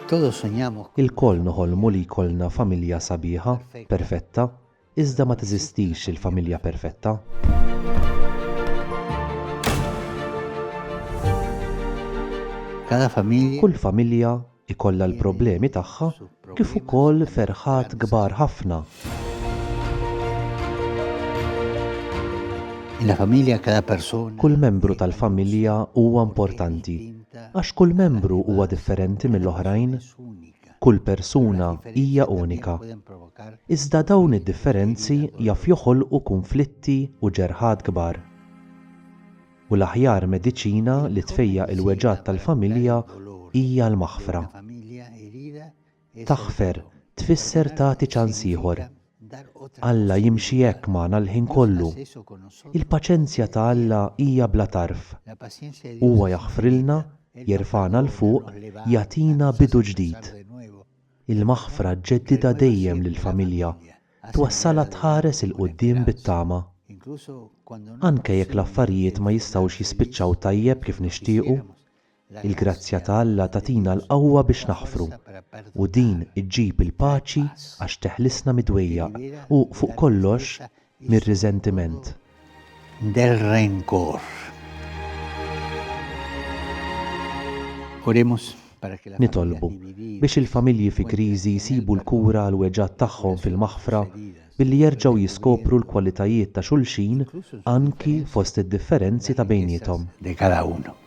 Todos soñamos. Ilkoll noħolmu li jkollna familja sabiħa, perfetta, iżda ma teżistix il-familja perfetta. Cada familja. Kull familja ikollha l-problemi tagħha kif ukoll ferħat kbar ħafna. Kull membru tal-familja huwa importanti għax kull membru huwa differenti mill-oħrajn. Kull persuna hija unika. Iżda dawn id-differenzi jaf joħolqu kunflitti u ġerħat kbar. u l-aħjar mediċina li tfejjaq il-weġgħat tal-familja hija l-maħfra. Taħfer tfisser tagħti ċans ieħor. Alla jimxi hekk magħna l-ħin kollu. Il-paċenzja ta' Alla hija bla tarf. Huwa jaħfrilna, jerfagħna 'l fuq, jagħtina bidu ġdid. Il-maħfra ġġeddidha dejjem lill-familja, twassalha tħares 'il quddiem bit-tama. Anke jekk l-affarijiet ma jistgħux jispiċċaw tajjeb kif nixtiequ, il-grazzja ta' Alla tagħtina l-qawwa biex naħfru, u din iġġib il-paċi għax teħlisna mid-dwejjaq u, fuq kollox, mir-riżentiment. Del rencor. Oremos para que la. Nitolbu biex il-familji fi kriżi jsibu l-kura għall-weġgħat tagħhom fil-maħfra billi jerġgħu jiskopru l-kwalitajiet ta' xulxin anki fost id-differenzi ta' bejniethom. De cada uno.